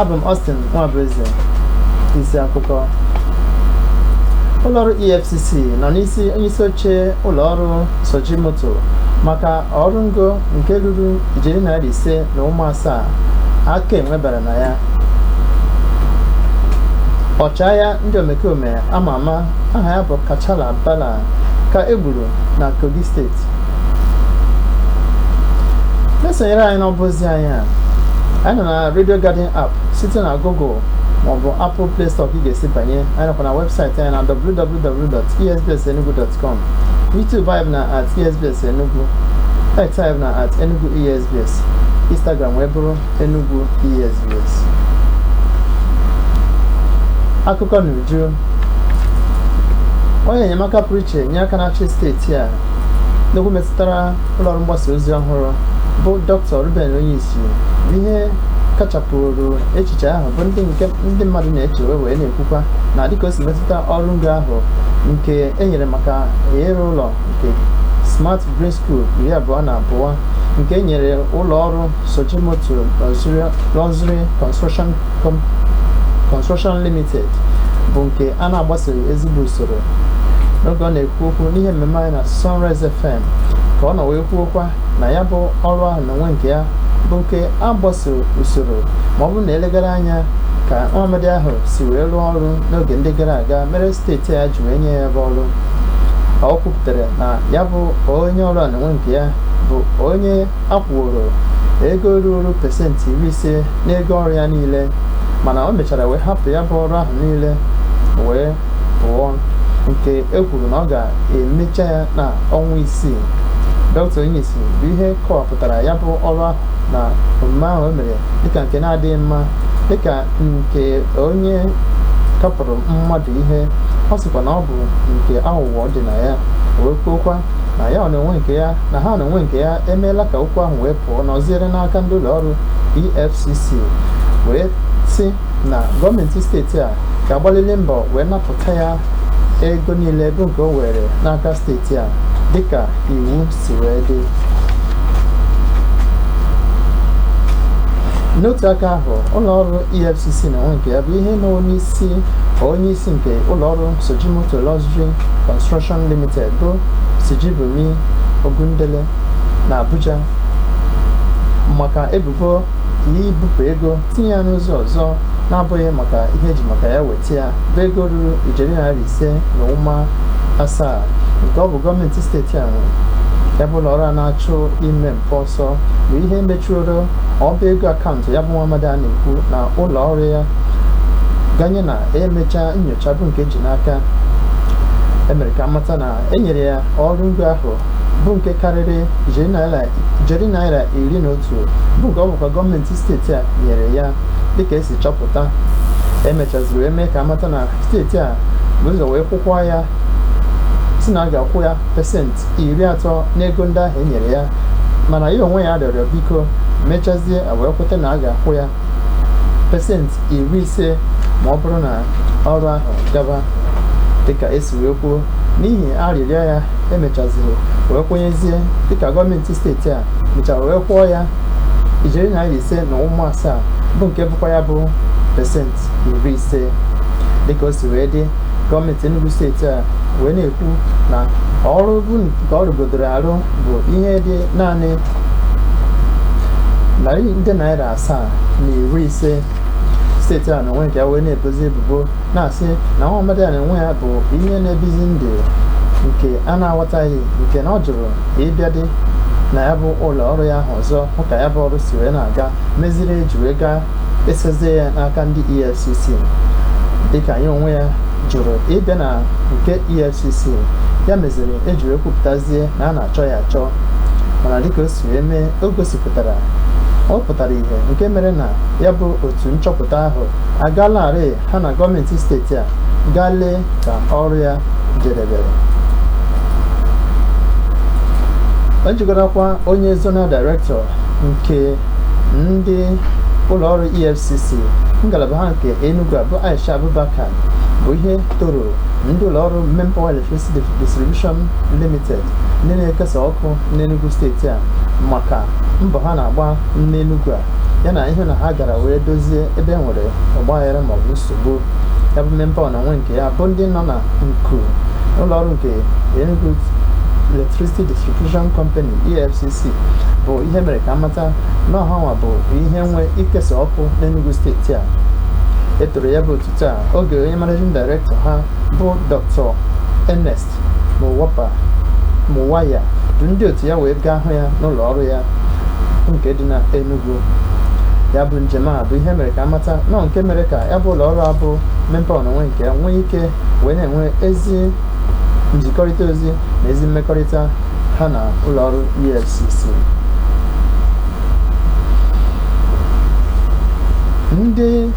abụ m Austin Nwabueze isi akụkọ ụlọọrụ EFCC nọ n'isi onyeisi oche ụlọọrụ Sujimoto maka ọrụ ngo nke ruru ijeri naira ise na ụma asaa aka enwe bara na ya ọchịagha ndị omekome ama ama aha ya bụ Kachala Bala ka e gburu na Kogi steeti na-esonyere anyị n'ọba ozi anyị a anyị nọ na na Radio Garden app site na Google maọbụ Apple Play Store ka ị ga-esi banye anyị nọkwa na webụsaịtị anyị na www.esbsenugu.com YouTube anyị bụ na at esbs enugu X anyị bụ na at enugu esbs Instagram wee bụrụ enugu esbs akụkọ n'uju onye enyemaka pụrụ iche nye aka na-achị steeti a n'okwu metụtara ụlọọrụ mgbasa ozi ọhụrụ bụ Dr. Reuben Onyishi bụ ihe kachapụrụ echiche ahụ bụ ndị nke ndị mmadụ na-eche wee wee na-ekwukwa na dịka o si metụta ọrụ ngo ahụ nke e nyere maka ịrụ ụlọ nke Smart Green School iri abụọ na abụọ nke e nyere ụlọ ọrụ Sujimoto Luxury Construction Com- Construction Limited bụ nke a na-agbasoghị ezigbo usoro n'oge ọ na-ekwu okwu n'ihe mmemme anyị na Sunrise FM ka ọ nọ wee kwuokwa na ya bụ ọrụ ahụ n'onwe nke ya bụ nke a gbasoro usoro ma ọ bụrụ na e legara anya ka nwamadị ahụ si wee rụọ ọrụ n'oge ndị gara aga mere steeti a ji wee nye ya bụ ọrụ o kwupụtara na ya bụ onye ọrụ a n'onwe nke ya bụ onye a kwụworo ego ruru pesentị iri ise n'ego ọrụ ya niile mana o mechara wee hapụ ya bụ ọrụ ahụ niile wee pụọ nke e kwuru na ọ ga-emecha ya n'ọnwa isii dọkịta Onyishi bụ ihe kọwapụtara ya bụ ọrụ ahụ na omume ahụ o mere dịka nke na-adịghị mma dịka nke onye kapụrụ mmadụ ihe ọ sịkwa na ọ bụ nke aghụghọ dị na ya wee kwuokwa na ya n'onwe nke ya na ha n'onwe nke ya emeela ka okwu ahụ wee pụọ na ọziere n'aka ndị ụlọ ọrụ EFCC wee sị na gọọmenti steeti a ga-agbalịlị mbọ wee napụta ya ego niile bụ nke o were n'aka steeti a dịka iwu si wee dị n'otu aka ahụ ụlọọrụ efcc n'onwe nke ya bụ ihe nọ n'isi onye isi nke ụlọọrụ sujimoto luxury construction limited bụ sijibomi ogundele na abuja maka ebubo ibupụ ego tinye ya n'ụzọ ọzọ na-abụghị maka ihe eji maka ya weta ya bụ ego ruru ijeri naira ise na ụma asaa nke ọ bụ gọọmenti steeti a nwe ya bụ ụlọ ọrụ a na-achụ ime mpụ ọsọ bụ ihe mechiri ọba ego akaụntụ ya bụ nwa amadi a na-ekwu na ụlọ ọrụ ya ganye na emechaa nyocha bụ nke ji n'aka emere ka amata na enyere ya ọrụ ngo ahụ bụ nke karịrị ijeri naira iri na otu bụ nke ọ bụkwa gọọmenti steeti a nyere ya dịka esi chọpụta emechaziri wee mee ka amata na steeti a bu ụzọ wee kwukwa ya sị na a ga-akwụ ya pesenti iri atọ n'ego ndị ahụ e nyere ya mana ya onwe ya rịọrọ biko mechazie wee kweta na a ga-akwụ ya pesenti iri ise ma ọ bụrụ na ọrụ ahụ gaba dịka esi wee kwuo n'ihi arịrịọ ya emechaziri wee kwenyezie dịka gọọmenti steeti a mechara wee kwụọ ya ijeri naira ise na ụma asaa bụ nke bụkwa ya bụ pesenti iri ise dịka o si wee dị gọọmenti Enugu steeti a wee na-ekwu na ọrụ bụ nke ọ rụgodoro arụ bụ ihe dị naanị narị nde naira asaa na iri ise steeti a n'onwe nke ya wee na-ebozi ebubo na-asị na nwa amadi a n'onwe ya bụ ihe na-ebizi ndụ nke a na-aghọtaghị nke na ọ jụrụ ịbịadị na ya bụ ụlọ ọrụ ya ahụ ọzọ hụ ka ya bụ ọrụ si wee na-aga meziri eji wee gaa esozie ya n'aka ndị efcc dịka ya onwe ya jụrụ ịbịa na nke efcc ya meziri eji wee kwupụtazie na a na-achọ ya achọ mana dịka o si wee mee o gosipụtara ọ pụtara ihe nke mere na ya bụ otu nchọpụta ahụ agalarị ha na gọọmenti steeti a gaa lee ka ọrụ ya jedebere o jigarakwa onye zonal director nke ndị ụlọọrụ efcc ngalaba ha nke enugu a bụ aisha abubakar bụ ihe toro ndị ụlọọrụ Mainpower Electricity Distribution Limited ndị na-ekesa ọkụ n'Enugu steeti a maka mbọ ha na-agba n'Enugu a ya na ihe na ha gara wee dozie ebe e nwere ọgbaghara maọbụ nsogbu ya bụ Mainpower n'onwe nke ya bụ ndị nọ na nku ụlọọrụ nke Enugu Electricity Distribution Company EFCC bụ ihe mere ka amata na ọ hanwa bụ ihe nwe ikesa ọkụ n'Enugu steeti a etoro ya bụ otuto a oge onye managing director ha bụ Dr. Ernest Muwapa Muwaya du ndị otu ya wee gaa hụ ya n'ụlọ ọrụ ya nke dị na Enugu ya bụ njem a bụ ihe mere ka amata na ọ nke mere ka ya bụ ụlọ ọrụ a bụ MainPower na onwe nke ya nwee ike wee na-enwe ezi nzikọrịta ozi na ezi mmekọrịta ha na ụlọ ọrụ EFCC ndị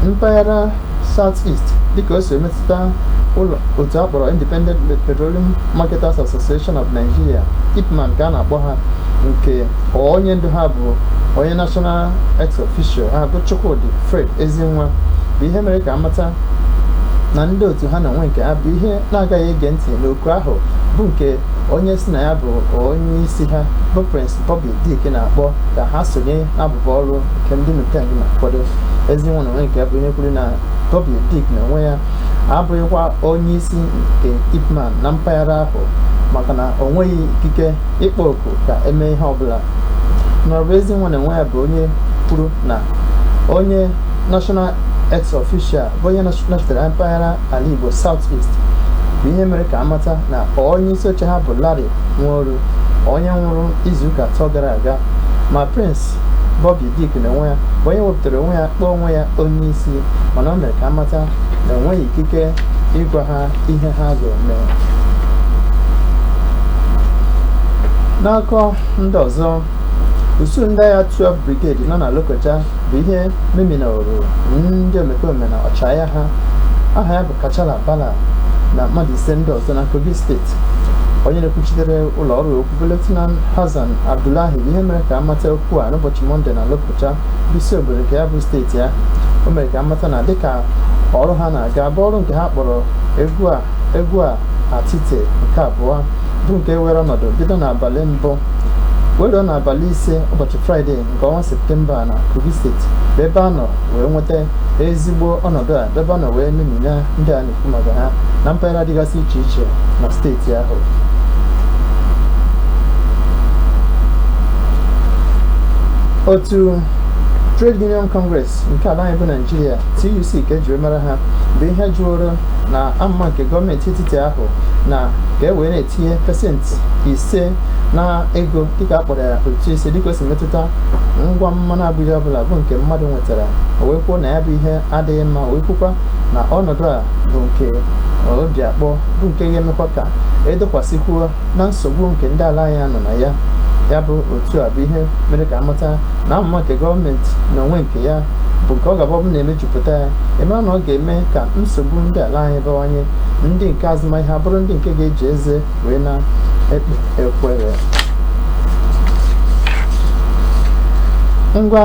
mpaghara South East dịka o si emetụta otu a kpọrọ Independent Petroleum Marketers Association of Nigeria IPMAN ka a na-akpọ ha nke onye ndu ha bụ onye national ex officio ha bụ Chukwudi Fred Ezinwa bụ ihe mere ka amata na ndị otu ha na onwe nke ha bụ ihe na-agaghị ege ntị n'oku ahụ bụ nke onye si na ya bụ onye isi ha bụ Prince Bobby Dick na-akpọ ka ha sonye n'abụbọ ọrụ nke ndị NUPENG na-akwado Ezinwa na onwe nke ya bụ ihe kwuru na Bobby Dick na onwe ya abụghịkwa onye isi nke IPMAN na mpaghara ahụ maka na o nweghị ikike ịkpọ oku ka emee ihe ọbụla n'ọrụ Ezinwa na onwe ya bụ onye kwuru na onye national ex official bụ onye nọchitere mpaghara ala Igbo South East bụ ihe mere ka amata na onye isi oche ha bụ Larry Nworu onye nwụrụ izuụka atọ gara aga ma Prince Bobby Dick na onwe ya bụ onye wepụtara onwe ya kpọọ onwe ya onye isi mana o mere ka amata na o nweghị ikike ịgwa ha ihe ha ga-eme n'akụkọ ndị ọzọ usuu ndị agha 12 brigade nọ na Lokoja bụ ihe meminaworo ndị omekome na ọchịagha ha aha ya bụ Kachala Bala na mmadụ ise ndị ọzọ na Kogi steeti onye na-ekwuchitere ụlọ ọrụ okwu bụ Lieutenant Hassan Abdullahi ihe mere ka amata okwu a n'ụbọchị Mọnde na Lokoja bụ isi obodo nke ya bụ steeti ahụ o mere ka amata na dịka ọrụ ha na-aga bụ ọrụ nke ha kpọrọ Egwua Egwua Atite nke abụọ bụ nke were ọnọdụ bido n'abalị mbụ wee ruo n'abalị ise ụbọchị fraịde nke ọnwa septemba na kogi steeti bụ ebe a nọ wee nweta ezigbo ọnọdụ a ebe a nọ wee memina ndị a na-ekwu maka ha na mpaghara dịgasị iche iche na steeti ahụ otu Trade Union Congress nke ala anyị bụ Naijiria TUC ka ejiri mara ha bụ ihe jụrụ na amụma nke gọọmenti etiti ahụ na ka e wee na-etinye pasentị ise na ego dịka a kpọrọ ya ụtụ isi dịka o si metụta ngwa mmanụ agbidi ọbụla bụ nke mmadụ nwere tara o wee kwuo na ya bụ ihe adịghị mma o wee kwukwa na ọnọdụ a bụ nke obi akpọ bụ nke ga-emekwa ka edokwasịkwuo na nsogbu nke ndị ala anyị nọ na ya ya bụ otu a bụ ihe mere ka amata na amụma nke gọọmenti na onwe nke ya bụ nke ọ ga-abụ ọ bụrụ na emejupụta ya eme na ọ ga-eme ka nsogbu ndị ala anyị bawanye ndị nke azụmahịa bụrụ ndị nke ga-eji eze wee na-ekpe ekwere ngwa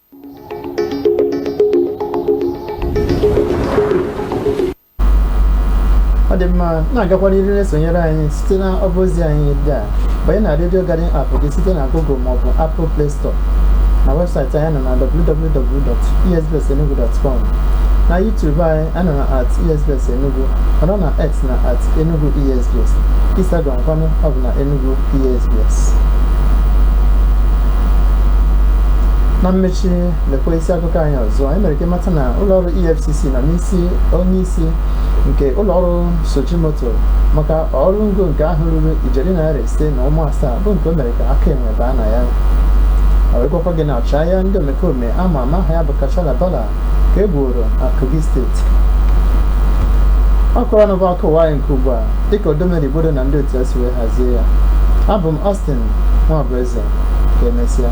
ọ dị mma na-agakwa n'ihu na-esonyere anyị site na ọba ozi anyị ndị a banye na redio garden app gị site na google maọbụ apple play store na webụsaịtị anyị nọ na www.esbsenugu.com na youtube anyị anọ na at esbs enugu ọnọ na x na at enugu esbs instagram kwanụ ọ bụ na enugu esbs na mmechi lekwa isi akụkọ anyị ọzọ anyị mere ka ịmata na ụlọọrụ efcc nọ n'isi onye isi nke ụlọọrụ sujimoto maka ọrụ ngo nke ahụ ruru ijeri naira ise na ụma asaa bụ nke o mere ka aka enwe baa na ya e wee gwakwa gị na ọchịagha ndị omekome ama ama aha ya bụ kachala bala ka e gbuoro na Kogi steeti ọ kọrọ na bụ akụkọ ụwa anyị nke ugbu a dịka Odomero Igbodo na ndị otu ya si wee hazie ya abụ m Austin Nwabueze ka emesịa